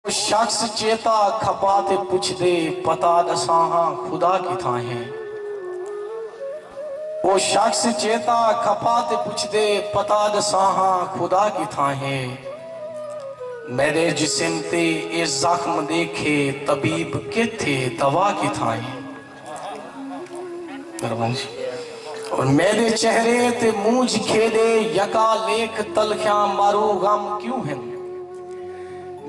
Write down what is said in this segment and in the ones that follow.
او شخص چیتا کھپا تے پچھدے پتہ ڈساں ہاں خدا کتھاں ہے؟ او شخص چیتا کھپا تے پچھدے پتہ ڈساں ہاں خدا کتھاں ہے؟ میڈے جسم تے اے زخم ڈیکھے طبیب کیتھے دوا کتھاں ہے؟ میڈے چہرے تے مونجھ کھیڈے یکا لیکھ تلخیاں مارو غم کیوں ہن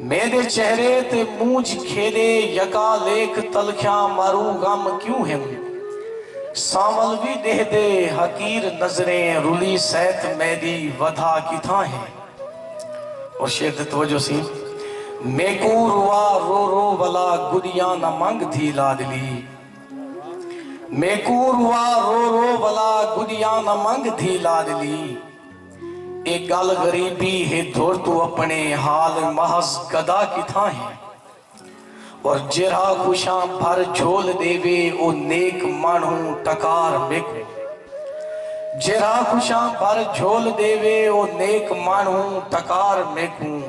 میڈے چہرے تے مونجھ کھیڈے یکا لیکھ تلخیاں مارو غم کیوں ہن سانول وی ڈیہدے حقیر نظریں رلی سیت میڈی ودھا کتھاں ہیں اور شعر دی توجہ سی میکو روا رو رو ولا گڈیاں نہ منگ دھی لاڈلی میکو روا رو رو ولا گڈیاں نہ منگ دھی لاڈلی اے گل غریبی ہے دھر تو اپنے حال محض گدا کتھاں ہے اور جیرھا کشاں بھر جھول ݙیوے او نیک ماݨہو ٹکار میکوں جیرھا کشاں بھر جھول ݙیوے او نیک ماݨہو ٹکار میکوں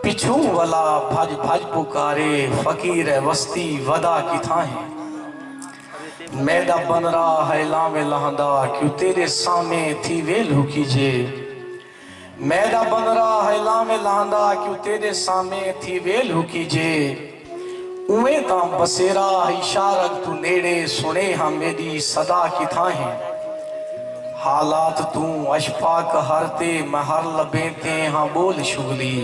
پچھوں ولا بھڄ بھڄ پکارے فقیر اے وستی ودا کتھاں ہے میݙا بنرا ہئے لانویں لہندا کیوں تیݙے سامھیں تھیوے لھکیجے۔ میݙا بندرا ہئے لاویں لہندا کیوں تیݙے سامے تھی ویل ہکی جے اونویں تاں بسیرا ہئی شارگ توں نیڑے سݨے ہاں میݙی صدا کتھاں ہے حالات توں اشپا قہر تے مہر لبیں تے ہاں ٻول شغلی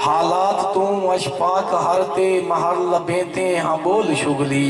حالات توں اشپا قہر تے مہر لبیں تے ہاں ٻول شغلی۔